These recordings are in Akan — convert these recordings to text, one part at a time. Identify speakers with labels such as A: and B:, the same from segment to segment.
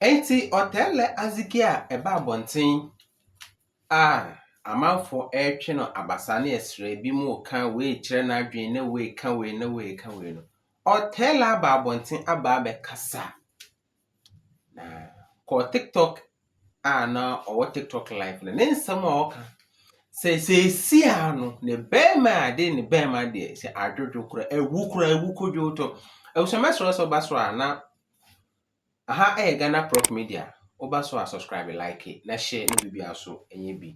A: Enti ɔtɛllɛ adzeki a ɛba abɔnten a amanfoɔ retwe no abasa ne ɛserɛ, binom reka wei rekyerɛ n'adwene na wei reka wei na wei reka wei no, ɔtɛllɛ aba abɔnten aba abɛkasa. Na kɔ TikTok a na ɔwɔ tiktok live no ne nsɛm a ɔka sɛ seesi a no ne bɛrima a de ne bɛrima deɛ sɛ adwodwo kora awu kora awu kodwo to abusuamɛ soro sɛ ɔba soro a na aha ɛyɛ ghana prop media ɔba so a subscribe like na hyɛ ne biribi aso ɛnyɛ bi.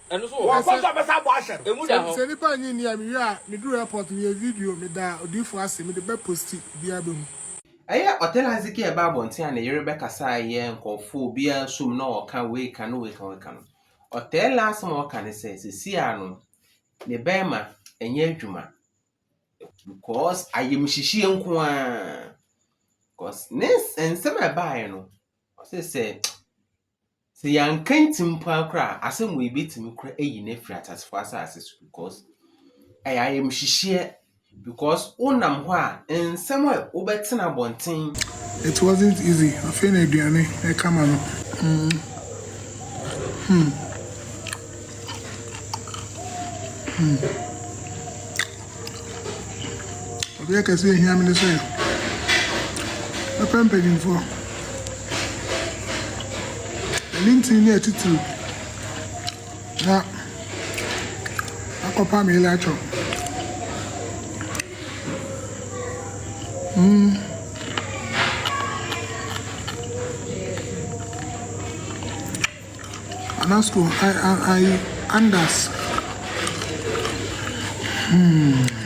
B: Wɔkɔ so bɛsan abɔ ahyɛ no. Emu da hɔ. Sɛ nipa nnye
C: nni a me
D: wie a me duru airport me yɛ video me da odiyifo ase me de bɛ posti obiara behu. Ɛyɛ ɔtɛ na
A: Hezekia ɛbaa abɔnten a ne yere bɛkasaa yɛɛ nkɔɔfoɔ obiara nso mu na ɔka wei ka no wei ka wei ka no. Ɔtɛɛ la asɛm a ɔka ne sɛ sesie ara no ne bɛɛma ɛnyɛ adwuma because ayɛmhyehyeɛ nko ara because ne nsɛm a ɛbaeɛ no ɔse sɛ Sɛ yɛanka ntim mpo ara koraa a, asɛm wei bɛtumi koraa ayi no afiri ateasefoɔ asase so because ɛyɛ ayamhyehyeɛ because wonam hɔ a nsɛm a wobɛtena abɔnten. It wasn't
D: easy afei na aduane ɛka ma no. Mm. Hmm. Hmm. Adeɛ kɛseɛ ɛhia me ne sɛ mɛpɛ mpanimfoɔ. Ɛne ntini ne atitiriw na akɔpa me latɔ. Mm. Ana school ayi Anders hmm.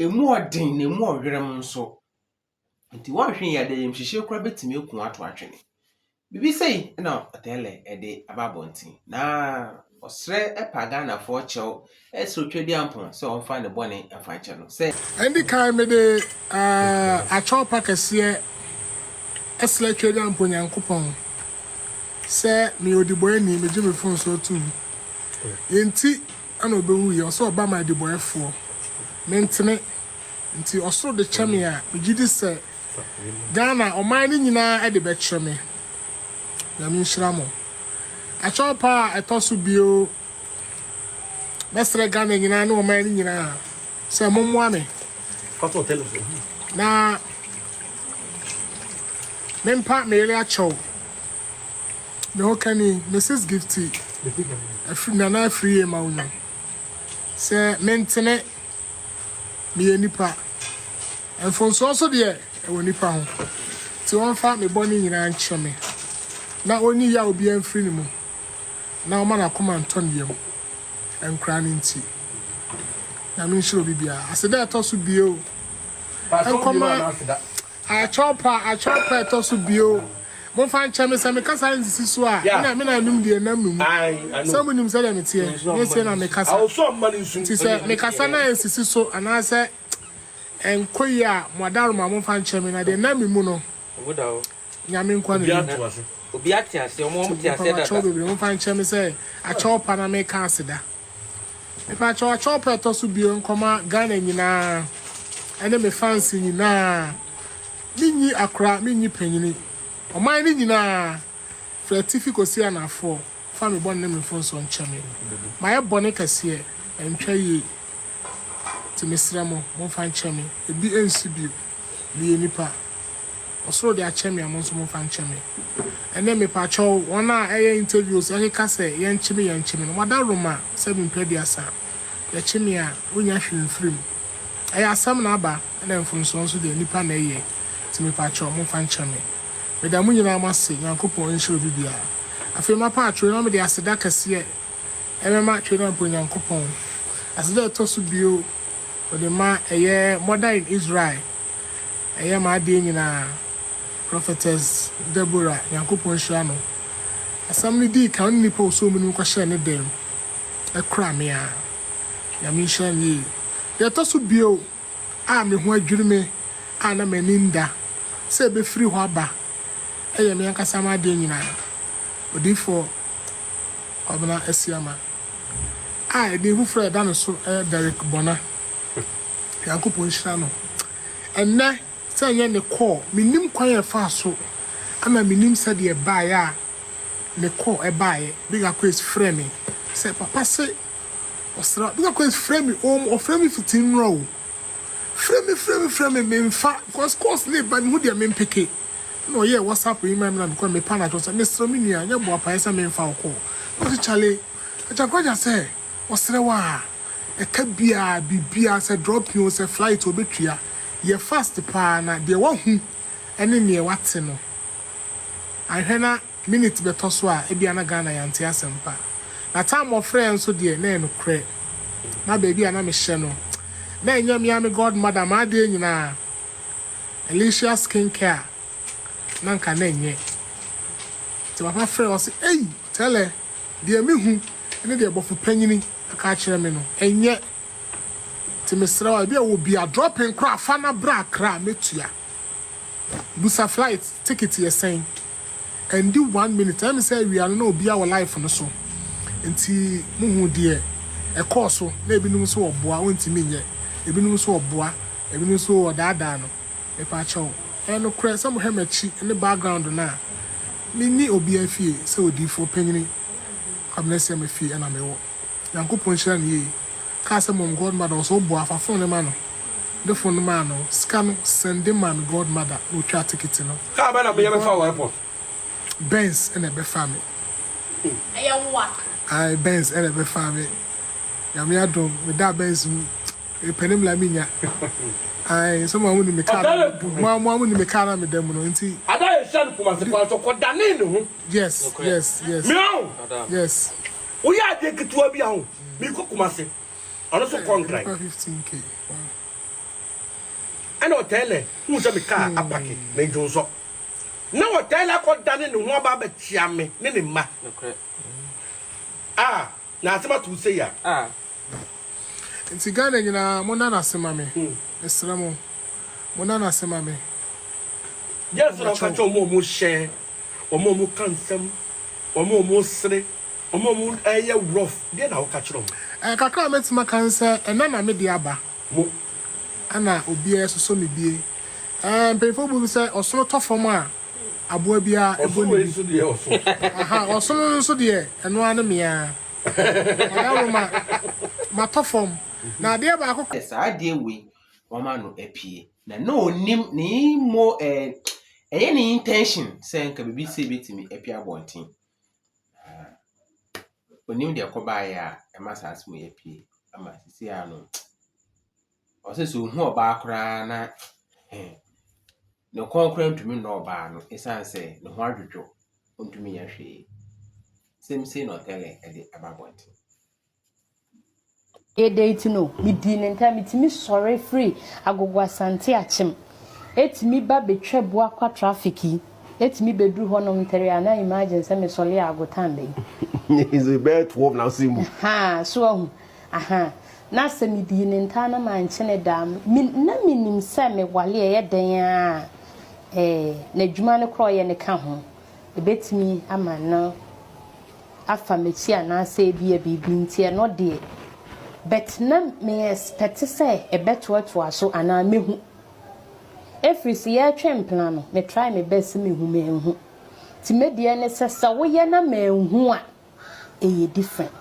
A: Ɛmu ɔden na ɛmu ɔwerɛm nso. Nti wɔnhwɛ yie a dayamhyehyeɛ koraa bɛtumi aku ato atwene. Biribi sei na Ɔtɛɛlɛ de aba abɔnten na ɔsrɛ pa Ghanafoɔ kyɛw srɛ Otwadeampɔn sɛ ɔmfa ne bɔne mfa nkyɛ no sɛ, Ɛndi kan mede
D: akyɛw pa kɛseɛ srɛ Twedeampɔn Nyankopɔn sɛ meyɛ ɔdibɔɛni, megye me mfomsoɔ tom, yɛnti, Ɛna ɔbɛwu yɛ, ɔsɛ ɔba ma adibɔɛfoɔ, me ntene, nti ɔsoro de kyɛ me a, me gye di sɛ Ghana ɔman no nyinaa de bɛkyɛ me. Nyame nhyira mo. Akyɛw paa a ɛtɔ so bio, mɛsrɛ Ghana nyinaa ne ɔman no nyinaa sɛ mommoa me
B: na
D: mempa me yere akyɛw. Me ho ka ni, Mrs. Gifty afiri Nana Afriyie ma wonya sɛ mentene meyɛ nipa. Mfomsoɔ nso deɛ ɛwɔ nipa ho nti ɔmfa me bɔne nyinaa nkyɛ me na ɔnyi yaw biara mfiri ne mu na ɔma n'akoma ntɔ ne yam nkoraa no nti. Nyame nhyira obi biara. Aseda ɛtɔ so bio nkɔma Akyɔpa, Akyɔpa ɛtɔ so bio. Momfa nkyɛ me, sɛ mekasa a ɛnsisi so a, me na me na ɛnum deɛ ɛnam me mu. Sɛ monim sɛdeɛ meteɛ, nyɛ sei na mekasa. Enti sɛ
B: mekasa na
D: ɛnsisi so anaasɛ ɛnkɔ yie a, mo adaworoma, momfa nkyɛ me, na deɛ ɛnam me mu no,
C: Nyame nkoa na ɔnim.
D: Nti,
C: Akyɔpa, Akyɔpa bebree, momfa nkyɛ me sɛ
D: Akyɔpa na meka aseda. Mepa kyɛw akyɛw pɛ ɛtɔ so bio nkɔma Ghana nyinaa ɛne me fansi nyinaa me nyi akora me nyi panyini ɔman no nyinaa firi atifi kɔsi anafoɔ fa me bɔne ne me mfomsoɔ nkyɛ me mayɛ bɔne kɛseɛ ɛntwa yie Nti mesrɛ mo, momfa nkyɛ me. Ebi nsi bio. Meyɛ nipa. Ɔsoro de akyɛ me a, mo nso momfa nkyɛ me. Ɛnnɛ, mepakyɛw, wɔn a ɛyɛ interviews ɛkeka sɛ yɛnkye me yɛnkye me no, wɔadaworoma sɛ me mpɛ aduasa. Yɛkye me a, wonnya hwee mfiri mu. Ɛyɛ asɛm na aba, ɛna mfomsoɔ nso deɛ, nipa na ɛyɛ. Nti mepakyɛw, momfa nkyɛ me. Meda mo nyinaa mo ase, Nyankopɔn nhyira obi biara. Afei mapɛ atwere na mede aseda kɛseɛ. ɛbɛma atwere no aba Onyankopɔn. Aseda a ɛtɔ so bio, wɔde ma ɛyɛ Mother in Israel, ɛyɛ m'adeɛ nyinaa, Prophetess Deborah, Nyankopɔn nhyira no. Asɛm no dii kan, ɔne nnipa a wɔsɔɔ mu no kɔhyɛɛ ne dan mu, ɛkora me ara. Nyame nhyira no yie. Deɛ ɛtɔ so bio. a me ho adwiri me a na m'ani nda sɛ ɛbɛfiri hɔ aba yɛ me ankasa m'adeɛ nyinaa, Odiyifoɔ Kwabena Asiama, a ɛdin foforɔ a ɛda no so yɛ Derrick Bona, Nyankopɔn nhyira no. Ɛnnɛ, sɛ ɛnyɛ ne kɔ, mennim kwan a ɛfaa so, ɛna mennim sɛdeɛ ɛbaeɛ a ne kɔ baeɛ, Big Aquays frɛɛ me sɛ, Papa se Ɔsra Bishop Kwesi frɛ me oom ɔfrɛ me fiti nnora oo Frɛ me frɛ me frɛ me menfa cos calls no reba mehu deɛ menpeke Ɛna ɔyɛɛ whatsapp yi maa me na mekɔɛ me pa no atɔ sɛ mesrɛ me nua nyɛ boapaeɛ sɛ menfa wo call Na ɔse Charlie Agya Kwagya sɛ ɔsrɛ wo a ɛka biaa biribiaa sɛ dropping oo sɛ flight oo ɔbɛtua Yɛ fast paa na deɛ wahu ne neɛ wate no Anhwɛ na Minute bɛtɔ so a ebia na Ghana yɛnte asɛm pa. Na time wɔfrɛɛ nso deɛ na ɛyɛ nokorɛ. Na baabi a na mehyɛ no na ɛnyɛ me ara me god mother m'adeɛ nyinaa Alicia skin care a na nka na ɛnyɛ. Nti papa frɛɛ ɔse ei Tɛlɛ deɛ me hu ne deɛ bɔfo panyini aka akyerɛ me no ɛnyɛ nti mesrɛ wo a ebia wɔ bi a dropping koraa a fa na bra Accra mɛtua. Busa flight ticket yɛ sɛn. Ɛndi one minute ɛyɛ me sɛ awia no na obiara wɔ life no so nti mohu deɛ ɛkɔɔ so na ebinom nso ɔboa ɔntumi nyɛ ebinom nso ɔboa ebinom nso ɔdaadaa no mepaakyɛw ɛyɛ nokorɛ sɛ mohwɛ makyi ne background no a menni obiara fie sɛ odiifoɔ panyini Kwabena Asiamah fie na mewɔ. Nyankopɔn nhyira no yie kaa sɛ mom godmother ɔsɛ ɔbɔ afa phone no ma no ɔde phone no maa no sika no sɛnde maa no godmother na ɔtwaa ticket no Car bɛn na me bɛfa wo
B: airport? Benz
D: na ɛbɛfaa me Ɛyɛ wo a. Ae Benz na ɛbɛfaa me Nyame adom me daa Benz mu mepɛ ne mmla me nya Ae sɛ mo a mo nim me car Ɔtaa yɛ duru. mo a mo nim me car na me da mu no nti Ada yɛ hyia no Kumasi
B: kwan so ɔkɔ danee ne ho Yes yes
D: yes Mia o.
B: yes.
D: Woyɛ adeɛ
B: ketewa bi a ho. Meekɔ Kumase. Ɔno nso kɔ Nkran.
D: Ɛna
B: ɔtaa lɛ huu sɛ me kaa apake na Dwonsɔ. Na ɔtaa lɛ akɔ dane ne ho aba abɛkyea me ne ne mma. Ah, na asɛm ato wo sei a. Ah.
D: Nti Ghana nyinaa, monna no ase ma me. Mesrɛ mo, monna no ase ma me.
B: Deɛn nso na woka kyerɛ wɔn a wɔhyɛ. wɔn a wɔka nsɛm, wɔn a wɔsere, wɔn a wɔyɛ rough, deɛ na woka kyerɛ wɔn? Eh, kakra a mɛtumi aka
D: ne sɛ, ɛnnɛ na me deɛ aba. Mo.
B: Ɛna
D: obiara asosɔ me bie. Eh, mpanyinfoɔ bɔ mu sɛ, ɔsono tɔ fam a, aboa biara ɛbɔ ne bi. Ɔsono yi nso deɛ, ɔso. Aha, ɔsono no nso deɛ, ɛno ara ne me ara. Ɔyawroma, matɔ fam. Na adeɛ baako. Sɛ saa adeɛ wei,
A: wɔama no apue. Na na ɔnim ne mo eh, ɛyɛ ne intention sɛ nka biribi sɛ bɛtumi apia abɔnten. Ɔnim deɛ ɛkɔbaeɛ a ɛma saa asɛm yi apue ama sisi a no ɔsɛ sɛ ɔhu ɔbaa koraa na eh, ne kɔn koraa ntumi nnɔ ɔbaa no ɛsiane sɛ ne ho adwodwo ɔntumi nyɛ hwee. Same say na ɔtɛlɛ ɛde aba abɔnten.
E: Adɛn nti no, midii no ntɛm. Mitumi sɔre firi Agogo Asante Akyem, etumi ba betwa Buakwa traffic yi, etumi beduru hɔnom ntɛrɛɛ a, na imagine sɛ mesɔre a Agotan bɛyɛ. Edze
B: bɛyɛ twelve na ɔsɛɛ mu. Ahaa, so woahu?
E: Ahaa. Na sɛ midii no ntaa na mannkyene da a, me, na minim sɛ mewale a, ɛyɛ dɛn ara a, ɛɛ, n'adwuma no koraa a ɔyɛ no ka ho. Ebetumi ama no. afa m'akyi anaasɛ ebia biribi nti ɛno deɛ but na me expect sɛ ɛbɛtoatoa so anaa mɛhu ɛfiri sɛ yɛretwe mpena no me try me best sɛ mehu manhu nti me deɛ ne sɛ sɛ woyɛ na manhu a ɛyɛ different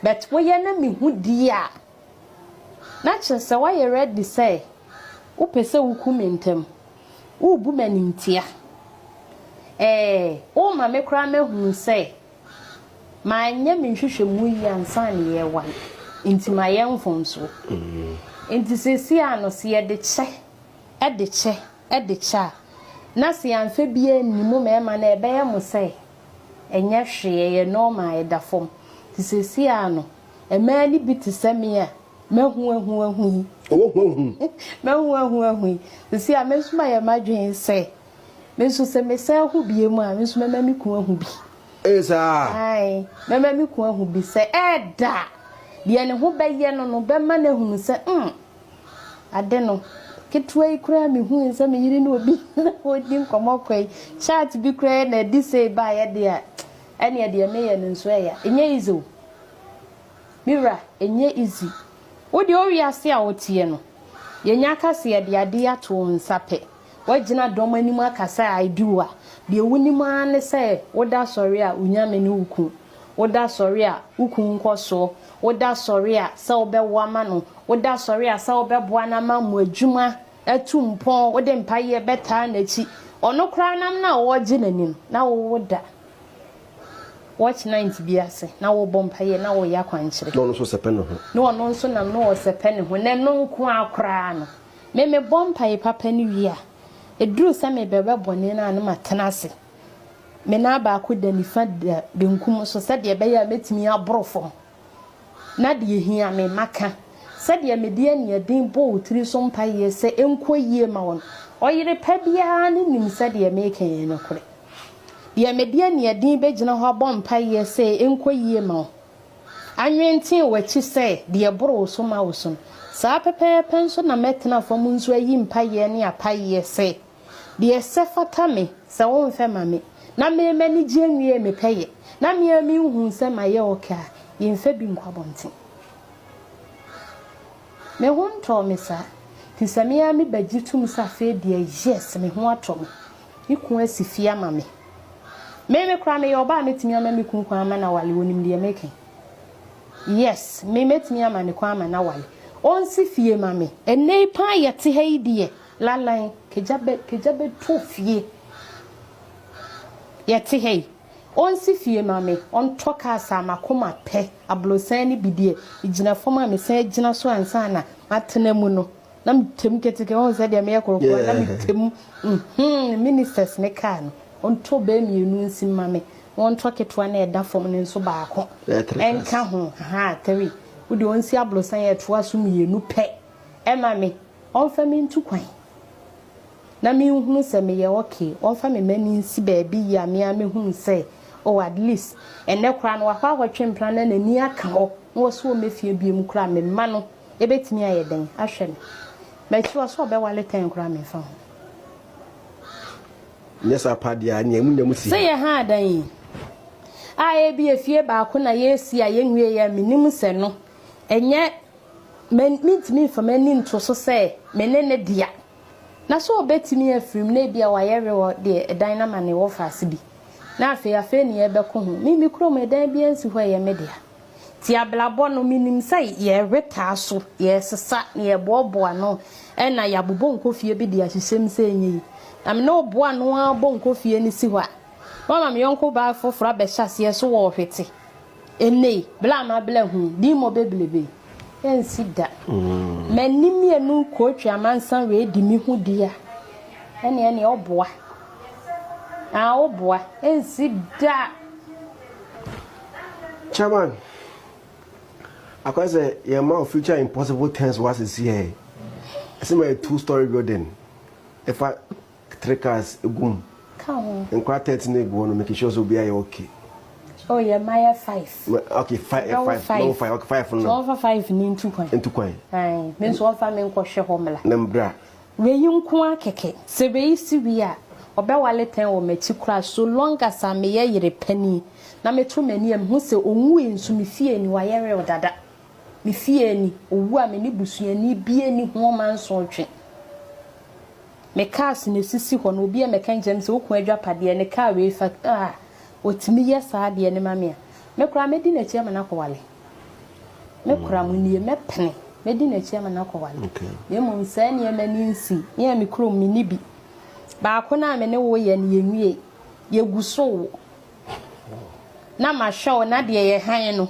E: but woyɛ na mehu die a na kyerɛ sɛ woayɛ ready sɛ wopɛ sɛ woku me ntɛm Worebu me animtia. Ɛɛ, worema me koraa mahunu sɛ manyɛ me nhwehwɛmu yie ansa na yɛrewan, enti mayɛ mfomsoɔ. Enti seesei ara no, sɛ yɛde kyɛ de kyɛ de kyɛ a, na sɛ yɛamfa biara anni mo mmarima no a, ɛbɛyɛ mo sɛ ɛnyɛ hwee, ɛyɛ normal, ɛda fam. Enti seesei ara no, mmaa no bi te sɛ me a, M'ahuahuahu yi. Ɔwɔ huahu. M'ahuahuahu yi. Sisi a me nso mayɛ m'adwene sɛ me nso sɛ mesan ho bie mu a me nso mɛma me kun ahu bi. Ee saa.
B: Ae,
E: mɛma me kun ahu bi sɛ ɛɛda a deɛ ne ho bɛyɛ no no bɛma no ahunu sɛ mm ade no ketewa yi koraa mehui sɛ me yere ne obi ɔdi nkɔmmɔ kɔ yi chat bi koraa yɛ na adi sei baeɛ deɛ a ɛneɛ deɛ meyɛ no nso ɛya ɛnyɛ easy o. Me wura ɛnyɛ easy. Wo deɛ wo wiase a wo teɛ no, yɛnya akaseɛ de adeɛ ato wo nsa pɛ. Woagyina dɔm anim aka sɛ I do a, deɛ wo nim ara ne sɛ wo da sɔre a wo nyame ne wo ku, wo da sɔre a wo ku nkɔ soɔ, wo da sɔre a sɛ wo bɛ wo ama no, wo da sɔre a sɛ wo bɛ boa no ama mo adwuma atu mpɔn, wo de mpayeɛ bɛ taa n'akyi. Ɔno koraa nam no a ɔregye n'ani no, na wo wo da. Watch night bi ase na wɔbɔ mpaeɛ na wɔyɛ akwankyerɛ. Na ɔno nso sɛpɛ ne ho.
B: Na ɔno nso nam na
E: ɔsɛpɛ ne ho na ɛno nko ara koraa no. Me mebɔ mpaeɛ papa no wie a, ɛduru sɛ mebɛwɛ bɔne no a na matena ase. Me nan baako da nifa da benkum so sɛdeɛ ɛbɛyɛ a mɛtumi aboro fam Na deɛ ɛhia me, maka. Sɛdeɛ mede aniɛden bɔ wo tiri so mpaeɛ sɛ ɛnkɔ yie ma wo no, ɔyere pa biara no nim sɛ deɛ mereka yɛ nokorɛ. Deɛ mede aniɛden bɛgyina hɔ abɔ mpaeɛ sɛ ɛnkɔ yie ma wo, anwentee w'akyi sɛ deɛ ɛboro wo so ma wo so no, saa pɛpɛɛpɛ nso na mɛtena fam nso ayi mpaeɛ ne apaeɛ sɛ, Deɛ ɛsɛ fata me, sɛ womfɛ ma me Na meyɛ m'anigyeɛ nwie me pɛ yɛ Na me ara menhuu sɛ mayɛ ok a Yɛmfa bi nkɔ abɔnten Me ho ntɔɔ me saa Fi sɛ me ara me ba gye tom sɛ afei deɛ yes Me ho atɔ me Me kunu asi fie ama me Me me koraa meyɛ ɔbaa a mɛtumi ama me kunu kwan ama no awale Ɔnim deɛ meka yi Yes me mɛtumi ama no kwan ama no awale Ɔnsi fie ma me Ɛnnɛ yi paa yɛte ha yi deɛ Lalan kagya bɛ kagya bɛ to fie yɛ te ha yi ɔnsi fie ma me ɔntɔ kaa saa makoma pɛ abrosan ne bi deɛ ɛgyina fam a me san gyina so ansa na matena mu no na me tɛm keteke ɔhu sɛ deɛ meyɛ korokoro na me tɛm mm ministers ne kaa no ɔntɔ bɛɛ mmienu nsi ma me na ɔntɔ ketewa na ɛda fam no nso baako ɛnka ho haa three wo deɛ ɔnsi abrosan yɛ toa so mmienu pɛ. Ɛma me, ɔmfa me ntu kwan. Na me nhunu sɛ meyɛ okay, ɔmfa me mma me nsi baabi yie a me ara mɛhunu sɛ oh at least ɛnnɛ koraa no wakɔ akɔtwe mpena na n'ani aka hɔ na ɔse ɔmmɛ fie biom koraa a me mma no ɛbɛtumi ayɛ dɛn ahwɛ me. M'akyi hɔ sɛ ɔbɛwale tɛn koraa a memfa ho. Nyɛ
B: saa paa deɛ a, nea emu nya mu si. Sɛ yɛ ha adan yi
E: a ebia fie baako na yɛresi a yɛnwieɛ a, menim sɛ no ɛnyɛ. Mintumi mfa m'ani nto so sɛ me ne ne dea. Na so obetumi afirim na ebia wayɛ werɛ de dan no ama ne wɔfase bi, na afei afei ne yɛrebɛko ho? Me, me kurom ɛdan biara nsi hɔ a ɛyɛ me dea. Te abrabɔ no, minim sɛ yɛrewe taa so, yɛresesa, na yɛreboaboa ano na yɛabobɔ nkɔ fie bi de ahyehyɛ mu sɛ ɛnyɛ yi. Na me ne wo boa ano ara bɔ nkɔ fie no si hɔ a, na wama me yɔnko baa foforo abɛhyɛ aseɛ so wɔ ɔhwete. Ene yi, bere a m'abla hu din mo beblebe yi, ensi da. M'ani mmienu kootwi amansan wee di me hu di a, ene ene oboa. Aa oboa, ensi da.
F: Chairman, akɔyɛ sɛ yɛn ma wo future impossible things wa sisi ɛ. Ɛsɛ ma yɛ two story building ɛfa Three cars gu mu. Ka ho. Nkwadaa
E: thirteen egu
F: hɔ nom making sure sɛ obiara yɛ okay. Oh yɛ mma
E: yɛ five. Mɛ okay five yɛ five. Dɔwɔ
F: five. Dɔwɔ okay five no. Sɛ ɔfa five ni ntu
E: kwan. Ntu kwan. Ayi mi
F: nso ɔfa
E: mi nkɔ hwɛ hɔ mla. Na mbra.
F: Wei yi nko
E: ara kɛkɛ sɛ wei si wie a ɔbɛ wale pɛn wɔ m'akyi koraa so long as a me yɛ yere panin na me to m'ani a me hu sɛ onwui nso me fie ni wayɛ real dada me fie ni owu a me ne busuani bie ni ho ɔma nso ɔtwe. Me cars na esisi hɔ no obi a mɛka nkyerɛ no sɛ okunu adwapadeɛ ne car wei fa ah otumi yɛ saa deɛ no ma me a me koraa mɛdi n'akyi ama no akɔ wale me koraa mo nie mɛpene mɛdi n'akyi ama no akɔ wale na mmom saa
F: nneɛma
E: ni nsi me a me kurom me ni bi baako no a me ne wo yɛ no yɛ nwie yɛ gu so wo na mahwɛ wo na deɛ yɛ han no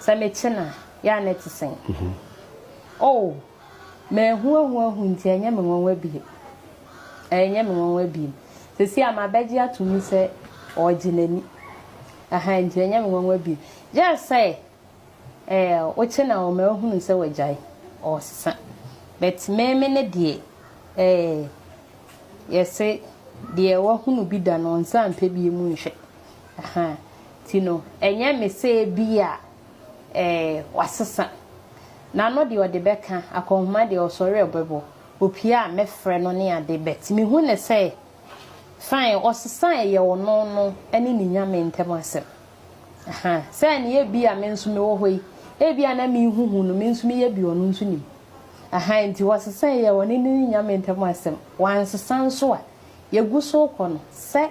E: Sɛ mekye no a, yɛ a na ɛte sɛn? Oh, mahuahuahu nti ɛnyɛ me nwanwa bio. Ɛnyɛ me nwanwa bio. Seesei a mabɛgye ato mu sɛ ɔregye n'ani. Aha, nti ɛnyɛ me nwanwa bio. Just sɛ eh, wokye no a ɔma ahunu sɛ wagyae, ɔresesa. But me, me ne deɛ, eh, yɛse deɛ wahunu bi da no ɔnsan mpɛ bio mu nhwɛ. Ahaa. Nti no, ɛnyɛ me sɛ ebia ɛɛ wasesa. N'ano deɛ ɔde bɛka, akɔnhoma deɛ ɔsɔre a ɔbɛbɔ, opue a mɛfrɛ no ne ade but mehu no sɛ fine, ɔsesa a ɛyɛ ɔno no ne ne Nyame ntam asɛm. Ahaa. Sɛnea ebia me nso mewɔ hɔ yi, ebia na mehuhu no, me nso meyɛ bi a ɔno nso nim. Ahaa. Nti ɔsesa a ɛyɛ ɔne ne Nyame ntam asɛm. Wansesa nso a, yɛgu so rekɔ no, sɛ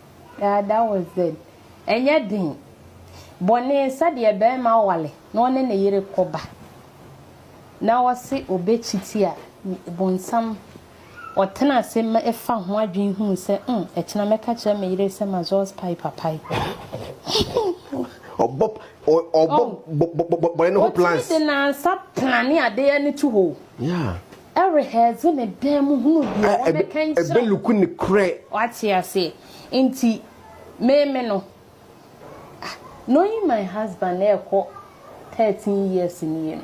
F: Yeah
E: that was it ɛnyɛ den. Bɔne sɛdeɛ barima ware na ɔne ne yere kɔba na ɔse ɔbɛkyiti a bonsam ɔtena ase fa ho adwene hunu sɛ mm ɛkyena mɛka kyerɛ me yere sɛ mazɔs pae papae.
F: Ɔbɔ ɔbɔ bɔne no ho plans. Ɔtumi de nansa
E: plane adeɛ no to hɔ o. Yeah.
F: Ɛrehɛɛdze
E: ne dan mu hunu deɛ wɔbɛka nkyerɛ wo. Ɛbɛluku ne korɛ.
F: Wate aseɛ?
E: Nti me me no, ah, knowing my husband ɛrekɔ thirteen years nie no,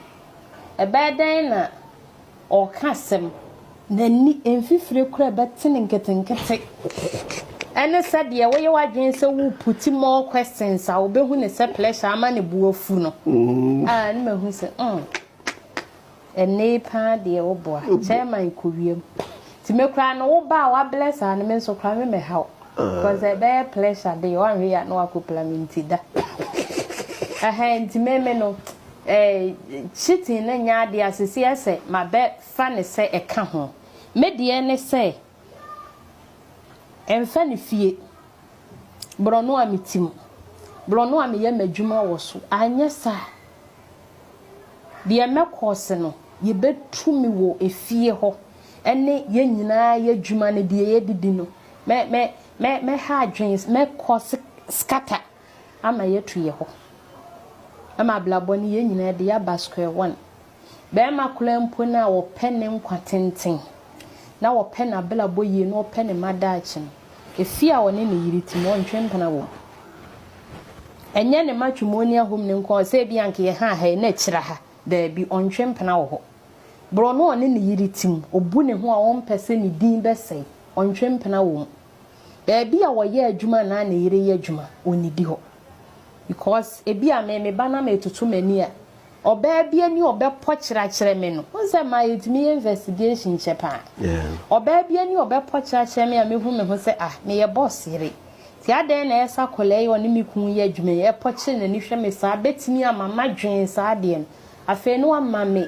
E: ɛbɛyɛ dɛn na ɔreka asɛm, n'ani mfifire koraa ɛbɛte no nketenkete, ɛne sɛdeɛ woyɛ w'adwene sɛ wo put more questions a wobɛhu no sɛ pressure ama ne bo afu no, ah, ne mahu sɛ, mm. Ɛnee paa deɛ wo boa chairman kɔ wiem nti me koraa no wo ba a wa bless aa no me nso koraa me mɛ ha wo cause ɛbɛyɛ pleasure deɛ wa nhwɛ ya na wa kɔ pla me nti da ɛhɛn nti me me no ɛɛ cheating no nyɛ adeɛ a sisi ɛsɛ ma bɛ fa ne sɛ ɛka ho me deɛ ne sɛ Ɛmfa ne fie. Borɔno a me tim. Borɔno a meyɛ m'adwuma wɔ so. Anyɛ saa a, deɛ mɛkɔɔse no, yɛbɛtu me wɔ efie hɔ ne yɛn nyinaa yɛ adwuma ne deɛ yɛdidi no. Mɛ, mɛ, mɛ, mɛha adwene, mɛkɔɔse scatter ama yɛatu yɛ hɔ. Ɛma abrabɔ no yɛn nyinaa de yɛaba square one. Barima koraa mpo no a ɔpɛ ne nkwa tenten, na ɔpɛ n'abrabɔ yie, na ɔpɛ ne mma daakye no, efie a ɔne ne yere te mu, ɔntwe mpena wom. Ɛnyɛ ne mma twemoni ahom no nko a, sɛ ebi anka yɛ ha ha yi na akyira ha, daabi, ɔntwe mpena wɔ hɔ. Borɔ no a ɔne ne yere te mu, ɔbu ne ho a ɔmpɛ sɛ ne din bɛsɛe, ɔntwe mpena wom. Baabi a ɔyɛ adwuma anaa ne yere yɛ adwuma, ɔnnidi hɔ. Because ebi a me, me ba no ama atoto m'ani a, Ɔbaa bi ani ɔbɛpɔ kyerakyerɛ me no, wohu sɛ maa yɛtumi yɛ investigation kyɛ paa. Ɔbaa bi ani ɔbɛpɔ kyerakyerɛ me a mɛhu me ho sɛ ah, meyɛ boss yere. Nti adɛn na ɛsɛ sɛ akwadaa yi a ɔne me kunu yɛ adwuma yi pɔ kyere n'ani hwɛ me saa, bɛtumi ama madwen saa adeɛ no. Afei no wama me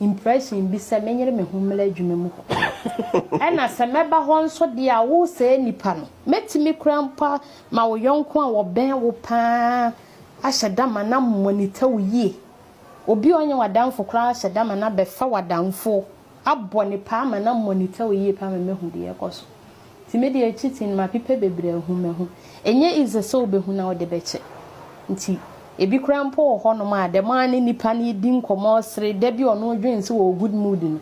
E: impression bi sɛ menyere me ho mmra adwuma mu hɔ. Ɛna sɛ mɛba hɔ nso deɛ a, wo sɛɛ nipa no, mɛtumi koraa mpo ama wo yɔnko a ɔbɛn wo paa ahyɛ da ma na mo ani tew yie. Obi a ɔnyɛ w'adamfo koraa ahyɛ da ma no abɛfa w'adamfo, abɔ ne paa ma na mo ani tew yie paa ma moahu deɛ ɛrekɔ so. Nti me deɛ akyi ti no mapepɛ bebree ahu mahu. Ɛnyɛ easy sɛ wobɛhu na wode bɛkyɛ. Nti ebi koraa mpo wɔ hɔnom a dɛm ara ne nipa no redi nkɔmmɔ resere, da bi ɔno dwene sɛ ɔwɔ good mood no,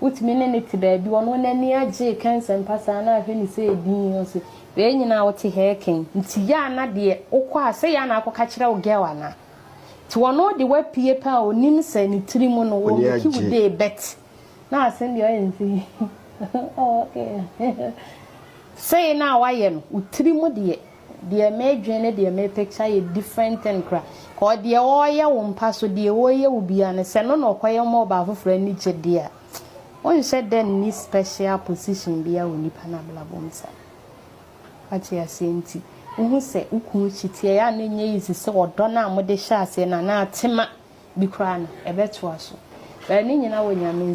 E: Wotumi ne no te baabi. Ɔno n'ani agye reka nsɛmpa saa na ahwɛ no sɛ edin ni. Ɔse wei nyinaa wote ha reka yi nti yɛ a na deɛ wokɔ a sɛ yɛ a na akɔka kyerɛ wo girl anaa? Nti ɔno de wapue paa a onim sɛ ne tiri mu no wo make wo day but na asem deɛ ɔyɛ no sɛ yi oh okay sei na wayɛ no wo tiri mu deɛ Deɛ meedwen ne deɛ me picture yɛ different thing kora. Cause deɛ ɔɔyɛ wo mpa so deɛ ɔɔyɛ wo biaa no sɛ no na ɔkɔyɛ ma ɔbaa foforɔ ani gye deɛ a wonhyɛ da nni special position biaa wɔ nipa no abrabɔ mu saa. Wate aseɛ nti wohu sɛ wo kunu kyi teɛ ɛyɛ a na ɛnyɛ easy sɛ ɔdɔ no a mode hyɛɛ aseɛ no anaa tema bi koraa no ɛbɛtoa so. But ne nyina wɔ Nyame nsa.